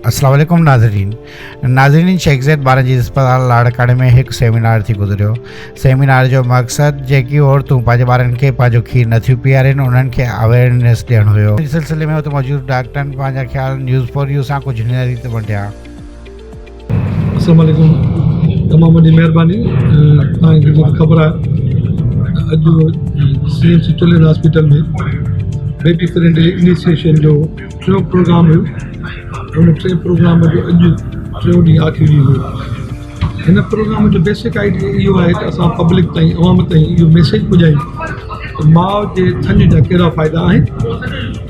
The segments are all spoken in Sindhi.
السلام عليڪم ناظرين ناظرين شيخ زيد ٻارن جي اسپتال لاڙڪاڻي ۾ هڪ سيمينار ٿي گذريو سيمينار جو مقصد جيڪي عورتون پنهنجي ٻارن کي پنهنجو کير نٿيون پيارين انهن کي اويرنيس ڏيڻ هيو ان سلسلي ۾ اتي موجود ڊاڪٽرن پنهنجا خيال نيوز فور يو سان ڪجهه هن ريت ونڊيا اسلام عليڪم تمام وڏي مهرباني تهان کي جيڪي خبر آهي اڄ سي M C children hospital ۾ baby friend initiation جو ٽيون پروگرام هيو ان ٽين پروگرام جو اڄ ٽيون ڏينهن آخري ڏينهن هيو هن پروگرام جو بيسڪ آئيڊيا اهو آهي ته اسان پبلڪ تائين عوام تائين اهو ميسيج پڄايون ته ماء جي ٿڃ جا ڪهڙا ڦائدا آهن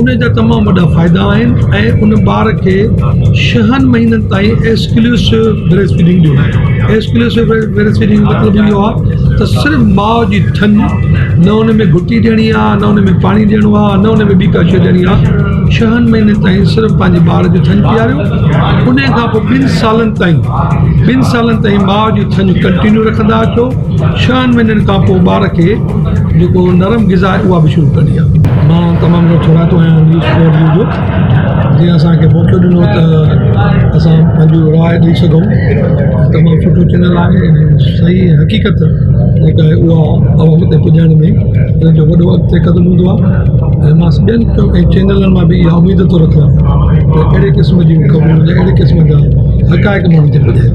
ان جا تمام وڏا فائدا آهن ۽ ان ٻار کي شهن مهينن تائين ايسڪلوسو بريسٽ فيڊنگ ڏيون ايسڪلوسو بريسٽ فيڊنگ جو مطلب اهو آهي ته صرف ماء جي ٿڃ نه ان ۾ گهٽي ڏيڻي آهي نه ان ۾ پاڻي ڏيڻو آهي نه ان ۾ ٻي ڪا شي ڏيڻي آهي شهن مهينن تائين صرف پنهنجي ٻار جي ٿڃ پياريو ان کان پوء ٻن سالن تائين ٻن سالن تائين ماء جي ٿڃ ڪنٽينيو رکندا اچو ڇهن مهينن کان پوء ٻار کي جيڪو نرم غذا آهي اها به شروع ڪرڻي آهي مان تمام گهڻو ٿورائتو آهيان نيوز فور يو جو جنهن اسان کي موقعو ڏنو ته اسان پنهنجو راء ڏئي سگهون تمام سٺو چينل آهي صحيح حقيقت جيڪا آهي اها عوام تي پڄائڻ ۾ ان جو وڏو اڳتي قدم هوندو آهي ۽ مان ٻين چينلن مان به اها اميد ٿو رکان ته اهڙي قسم جون خبرون اهڙي قسم جا حقائق ماڻهن تي پڄائين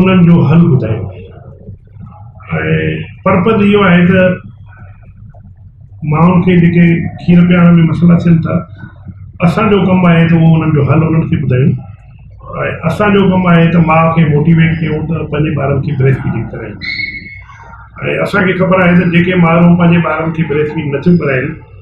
انهن جو حل ٻڌايو وڃي ۽ پرپد اهو آهي ته ماڻهن کي جيڪي کير پيارڻ ۾ مسئلا ٿين ٿا اسانجو ڪم آهي ته اهو انهن جو حل انهن کي ٻڌايون ۽ اسانجو ڪم آهي ته ماء کي موٽيويٽ ڪيون ته پنهنجي ٻارن کي بريسٽ فيڊنگ ڪرائين ۽ اسانکي خبر آهي ته جيڪي مائرون پنهنجي ٻارن کي بريسٽ فيڊ نٿيون ڪرائين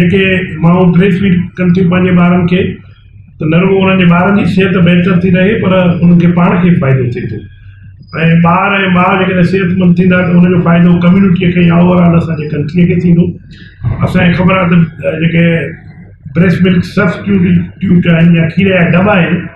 جيڪي مائون بريسٽ فيڊ ڪن ٿيون پنهنجي ٻارن کي ته نه رڳو انهن جي ٻارن جي صحت بهتر ٿي رهي پر انهن کي پاڻ کي به فائدو ٿئي ٿو ۽ ٻار ۽ ماء جيڪڏهن صحتمند ٿيندا ته ان جو فائدو ڪميونٽيء کي يا اوور آل اسان جي ڪنٽريء کي ٿيندو اسان کي خبر آهي ته جيڪي بريسٽ ملڪ سبسٽيوٽ آهن يا کير جا دٻا آهن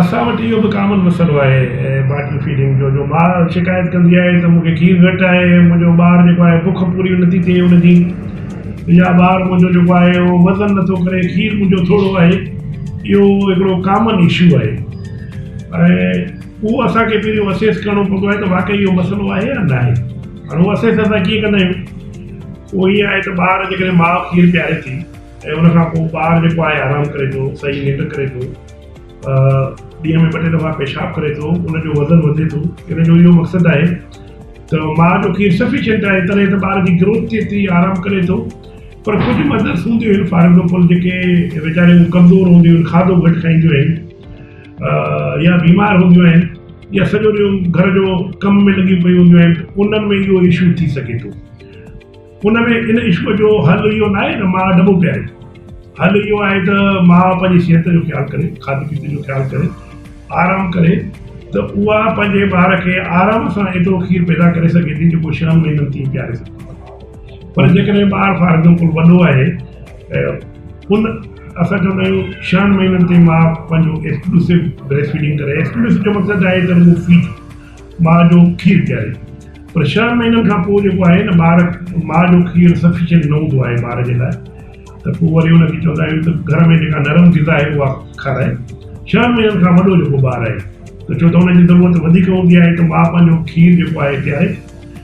اسان وٽ اهو به ڪامن مسئلو آهي باٽل فيڊنگ جو جو ماء شڪايت ڪندي آهي ته مون کي کير گهٽ آهي منهنجو ٻار جيڪو آهي بک پوري نٿي ٿئي ان جي يا ٻار منهنجو جيڪو آهي اهو وزن نٿو ڪري کير منهنجو ٿورو آهي اهو هڪڙو ڪامن اشو آهي ۽ اهو اسان کي پهريون اسيس ڪرڻو پوندو آهي ته واقعي اهو مسئلو آهي يا ناهي هاڻي اهو اسيس اسان ڪيئن ڪندا آهيون اهو ائين آهي ته ٻار جيڪڏهن ماء کير پياري ٿي ۽ ان کان پوء ٻار جيڪو آهي آرام ڪري ٿو، صحيح ننڊ ڪري ٿو، ڏينهن ۾ ٻه ٽي دفعا پيشاب ڪري ٿو، ان جو وزن وڌي ٿو، ان جو اهو مقصد آهي ته ماء جو کير سفيشنٽ آهي تڏهن ته ٻار جي گروٿ ٿئي ٿي، آرام ڪري ٿو، پر ڪجهه مدرس هونديون آهن فار ايگزامپل جيڪي ويچاريون ڪمزور هونديون آهن، کاڌو گهٽ کائينديون آهن يا بيمار هونديون آهن يا سڄو ڏينهن گهر جو ڪم ۾ لڳيون پيون هونديون آهن، انهن ۾ اهو اشو ٿي سگهي ٿو. ان ۾ ان عشق جو حل اهو نه آهي ته ماء ڏٻو پياري. حل اهو آهي ته ماء پنهنجي صحت جو خيال ڪري، کاڌي پيتي جو خيال ڪري، آرام ڪري ته اها پنهنجي ٻار کي آرام سان ايترو کير پيدا ڪري سگهي ٿي جيڪو ڇهن مهينن تائين پياري سگهي ٿي. پر جيڪڏهن ٻار فار ايگزامپل وڏو آهي ۽ ان اسان چوندا آهيون ڇهن مهينن تائين ماء پنهنجو ايڪسڪلوسو بريسٽ فيڊنگ ڪري، ايڪسڪلوسو جو مقصد آهي ته رڳو فيڊ. ماء جو کير پياري پر ڇهن مهينن کان پوء جيڪو آهي نه ٻار ماء جو کير سفيشنٽ نه هوندو آهي ٻار جي لاء ته پوء وري ان کي چوندا آهيون ته گهر ۾ جيڪا نرم غذا آهي اها کارائي ڇهن مهينن کان وڏو جيڪو ٻار آهي ته ڇو ته ان جي ضرورت وڌيڪ هوندي آهي ته ماء پنهنجو کير جيڪو آهي پياري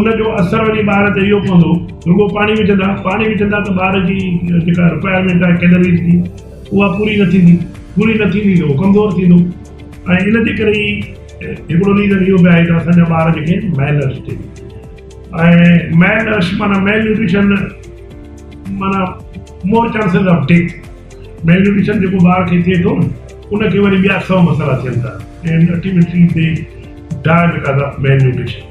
ان جو اثر وڃي ٻار تي اهو پوندو رڳو پاڻي وجهندا پاڻي وجهندا ته ٻار جي جيڪا رڪوائرمينٽ آهي ڪيلريز جي اها پوري نه ٿيندي پوري نه ٿيندي ته اهو ڪمزور ٿيندو ۽ ان جي ڪري ئي هڪڙو ريزن اهو به آهي ته اسان جا ٻار جيڪي آهن ميل نرش ٿي ۽ ميل نرش معنيٰ ميل نيوٽريشن معنيٰ more chances of death malnutrition جيڪو ٻار کي ٿئي ٿو ان کي وري ٻيا سؤ مسئلا ٿين ٿا ۽ ultimately they die because of malnutrition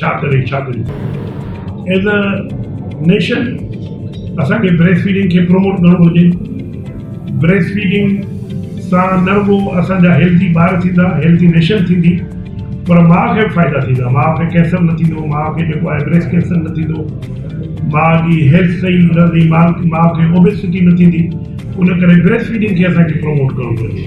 ڇا ڪري ڇا ڪري ايز ا نيشن اسان کي بريسٽ فيڊنگ کي پروموٽ ڪرڻ گهرجي بريسٽ فيڊنگ سان نه رڳو اسان جا هيلٿي ٻار ٿيندا هيلٿي نيشن ٿيندي پر ماء کي به فائدا ٿيندا ماء کي ڪينسر نه ٿيندو ماء کي جيڪو آهي بريسٽ ڪينسر نه ٿيندو ماء جي هيلٿ صحيح رهندي ماء کي اوبيسٽي نه ٿيندي ان ڪري بريسٽ فيڊنگ کي اسان کي پروموٽ ڪرڻ گهرجي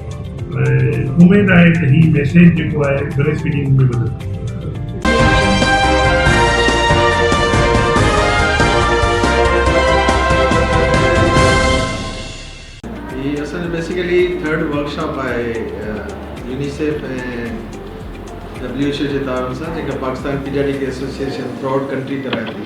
اميد آهي ته هي ميسيج جيڪو آهي گهڻي اسپيڊي مون ۾ وڌندو. هي اسان جو بيسيڪلي ٿرڊ ورڪ شاپ آهي يونيسيف ۽ ڊبليو ايڇ او جي تعاون سان جيڪا Pakistan paediatric association throughout country ڪرائي ٿي.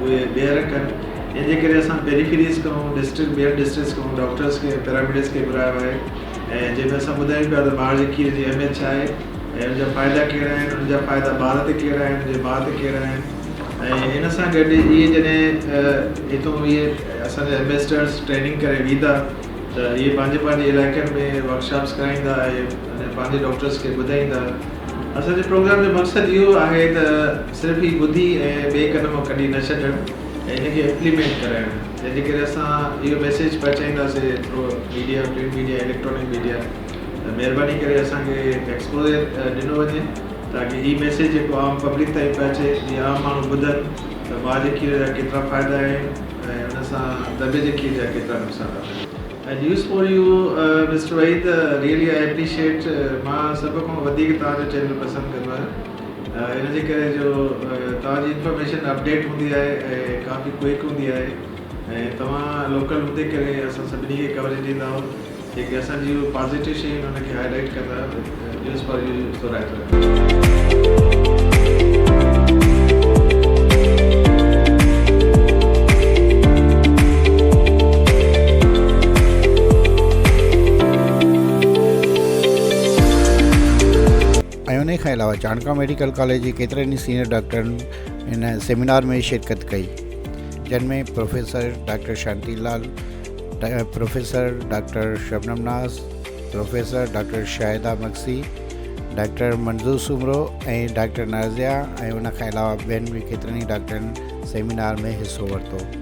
اهي ٻيهر ڪن ان جي ڪري اسان پيريفيريز کان ڊسٽرڪٽ ٻين ڊسٽرڪٽس کان ڊاڪٽرس کي پيراميڊڪس کي گهرايو آهي ۽ جنهن ۾ اسان ٻڌايون پيا ته ٻار جي کير جي اهميت ڇا آهي ۽ ان جا فائدا ڪهڙا آهن ان جا فائدا ٻار تي ڪهڙا آهن ان جي ماء تي ڪهڙا آهن ۽ ان سان گڏ اهي جڏهن هتون اهي اسان جا ايمبيسڊرس ٽريننگ ڪري ويندا ته اهي پنهنجي پنهنجي علائقن ۾ ورڪشاپس ڪرائيندا ۽ پنهنجي ڊاڪٽرس کي ٻڌائيندا اسان جي پروگرام جو مقصد اهو آهي ته صرف هي ٻڌي ۽ ٻئي ڪن مان ڪڍي نه ڇڏڻ ۽ ان کي امپليمينٽ ڪرائڻ جنهن جي ڪري اسان اهو ميسيج پهچائينداسي through media print media electronic media ته مهرباني ڪري اسان کي ايڪسپوزر ڏنو وڃي تاڪي هي ميسيج جيڪو عام پبلڪ تائين پهچي جي عام ماڻهو ٻڌن ته ماء جي کير جا ڪيترا فائدا آهن ۽ ان سان دٻي جي کير جا ڪيترا نقصانات آهن. News for You mister Waheed really I appreciate مان سڀ کان وڌيڪ توهان جو چينل پسند ڪندو آهيان. ان جي ڪري جو توهان جي انفارميشن اپڊيٽ هوندي آهي ۽ ڪافي ڪوئڪ هوندي آهي ۽ توهان لوڪل هوندي ڪري اسان سڀني کي ڪوريج ڏيندا آهيون جيڪي اسان جي پازيٽو شيون آهن ان کي هائي لائيٽ ڪندا آهيون نيوز فار يو سو رائتو ايم ۽ انهي کان علاوه چانڊڪا ميڊيڪل ڪاليج جي ڪيترن ئي سينئر ڊاڪٽرن هن سيمينار ۾ شرڪت ڪئي جن ۾ professor doctor Shanti Lal, professor doctor Shabnam Naz, professor doctor Shahida Magsi, doctor Manzoor Soomro ۽ doctor Nazia ۽ ان کان علاوه ٻين به ڪيترن ئي ڊاڪٽرن سيمينار ۾ حصو ورتو.